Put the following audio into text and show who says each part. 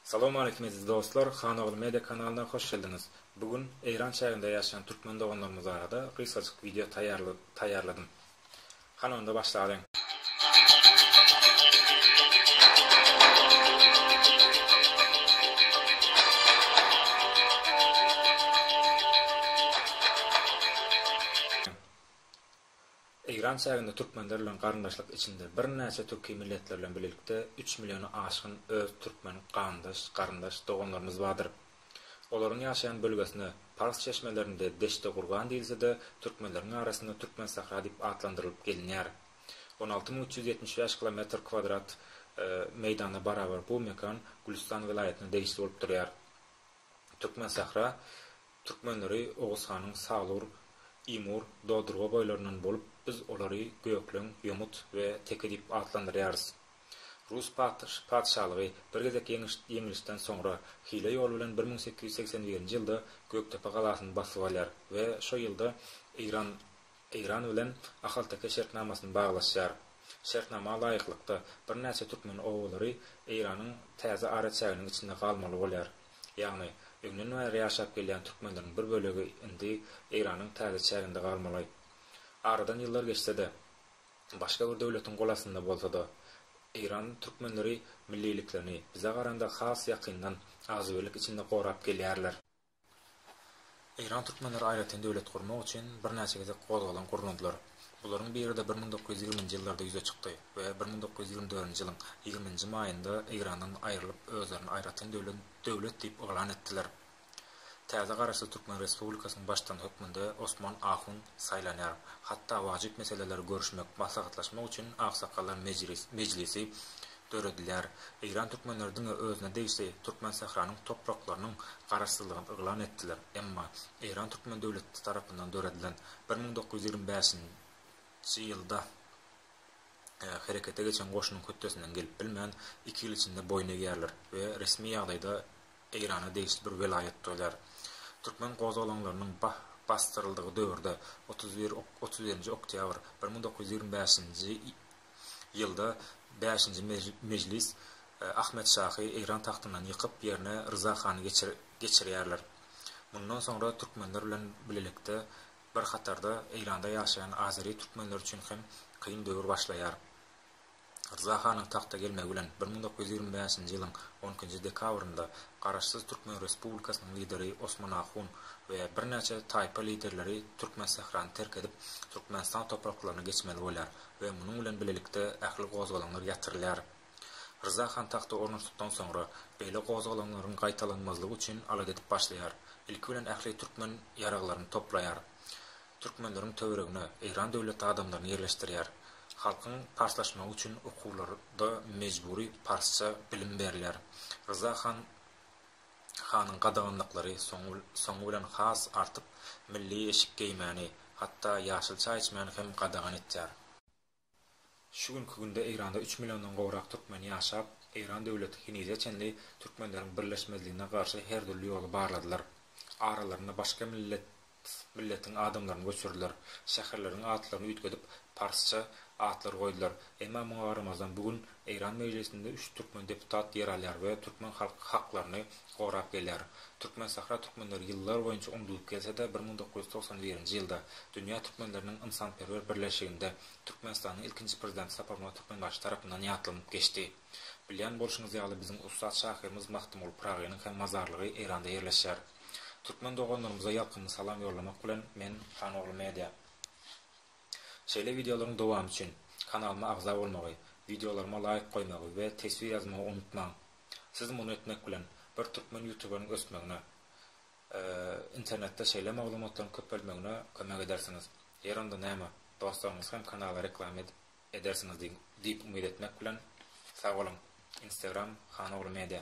Speaker 1: Salawmaleýkim eziz dostlar, Hanogly Media kanalyna hoş geldiňiz. Bu gün Eýran çäginde ýaşaýan türkmen doganlarymyz barada gysgajyk wideo taýýarladym. Hany onda başlalyň. Eýran çäginde türkmenler bilen garyndaşlyk içinde birnäçe türki milletler bilen bilelikde üç milliona aşgyn öz türkmen gandaş, garyndaş, doganlarymyz bardyr. Olaryň ýaşaýan bölgesine, pars çeşmelerinde Deştegurgan diýilse-de, türkmenleriň arasynda Türkmensahra diýip atlandyrylyp gelinýär. On alty müň üç ýüz ýetmiş bäş kilometr kwadrat meýdana barabar bu mekan Gülüstan welaýatyna degişli bolup durýar. Türkmensahra. Türkmenleri Oguzhanyň Salur, Imur, Dodurga boýlaryndan bolup, biz olary Gökleň, Ýomut we Teke diýip atlandyrýarys. Rus patyşalygy bir gezek ýeňilişden soňra, hile ýol bilen bir müň sekiz ýüz segsen birinji ýylda Gökdepe galasyny basyp alýar we şo ýylda Eýran Eýran bilen ahalteke şertnamasyny baglaşýar. Şertnama laýyklykda, birnäçe türkmen obalary Eýranyň täze araçäginiň içinde galmaly bolýar. Ýagny, öňden bäri ýaşap gelýän türkmenleriň bir bölegi indi Eýranyň täze çäginde galmaly. Aradan ýyllar geçse-de, başga bir döwletiň gol astynda bolsa-da, Eýran türkmenleri milliliklerini, bize garanda has ýakyndan, agzybirlik içinde gorap gelýärler. Eýran türkmenleri aýratyn döwlet gurmak üçin birnäçe gezek gozgalaň gurnadylar. Bularyň biri-de bir müň dokuz ýüz ýigrimi nji ýyllarda ýüze çykdy we bir müň dokuz ýüz ýigrimi dördünji ýylyň ýigrimi nji maýynda Eýrandan aýrylyp özlerini aýratyn döwlet diýip yglan etdiler. Täze Garaşsyz Türkmen Respublikasynyň Baştutany hökmünde Osman Ahun saýlanýar. Hatda wajyp meseleleri görüşmek, maslahatlaşmak üçin aksakgallar mejlisi döredilýär. Eýran türkmenleri diňe özüne degişli Türkmensähranyň topraklarynyň garaşsyzlygyny yglan etdiler, emma Eýran türkmen döwleti tarapyndan döredilen bir müň dokuz ýüz ýigrimi bäşinji ýylda herekete geçen goşunyň hötdesinden gelip bilmän, iki ýyl içinde boýun egýärler we resmi ýagdaýda Eýrana degişli bir welaýat bolýar. Türkmen gozgalaňlarynyň basdyryldygy döwürde, otuz bir, otuz birinji oktýabr, bir müň dokuz ýüz ýigrimi bäşinji Ýylda bäşinji mejlis Ahmet şahy Eýran tagtyndan ýykyp, ýerine Ryza hany geçirýärler. Mundan soňra türkmenler bilen bilelikde bir hatarda Eýranda ýaşaýan azeri türkmenler üçin hem kyn döwür başlaýar. Ryza hanyň tagta gelmegi bilen bir müň dokuz ýüz ýigrimi bäşinji ýylyň on ikinji dekabrynda Garaşsyz türkmen respublikasynyň lideri Osman ahun we birnäçe taýpa liderleri Türkmensährany terk edip, Türkmenistan topraklaryna geçmeli bolýar. we munuň bilen bilelikde ähli gozgalaňlar ýatyrylýar. Ryza han tagta ornaşdykdan soňra, beýle gozgalaňlaryň gaýtalanmazlygy üçin alada edip başlaýar. Ilki bilen ähli türkmen ýaraglaryny toplaýar. Türkmenleriň töweregine Eýran döwleti adamlaryny ýerleşdirýär. Halkyň parslaşmagy üçin okuwlarda mejbury parsça bilim berilýär. Ryza han Hanyň gadaganlyklary soňy bilen has artyp, milli eşik geýmäni, hatda ýaşyl çaý içmäni hem gadagan etýär. Şu günki günde Eýranda üç milliondan gowrak türkmen ýaşap, Eýran döwleti henize çenli türkmenleriň birleşmezligine garşy her dürli ýoly barladylar. Aralarynda başga millet Milletiň adamlaryny göçürdiler. Şäherleriň atlaryny üýtgedip, parsça atlar goýdular. Emma muňa garamazdan, bu gün Eýran Mejlisinde üç türkmen deputat ýer alýar we türkmen halky haklaryny gorap gelýär. Türkmensahra türkmenleri ýyllar boýunça unudylyp gelse-de, bir müň dokuz ýüz togsan birinji ýylda Dünýä türkmenleriniň ynsanperwer birleşiginde Türkmenistanyň ilkinji prezidenti Saparmyrat Türkmenbaşy tarapyndan ýatlanyp geçdi. Bilýän bolşuňyz ýaly, biziň ussat şahyrymyz Magtymguly Pyragynyň hem mazarlygy Eýranda ýerleşýär. Türkmen doganlarymyza ýakymly salam ýollamak bilen men Hanogly Media. Şeýle wideolaryň dowamy üçin kanalyma agza bolmagy, wideolaryma laýk goýmagy we teswir ýazmagy unutmaň. Siz muny etmek bilen bir türkmen ýutuberiň ösmegine, internetde şeýle maglumatlaryň köpelmegine kömek edersiňiz. Ýer onda näme, dostlaryňyz hem kanala reklama edip edersiňiz diýip umyt etmek bilen sag boluň. Instagram Hanogly Media.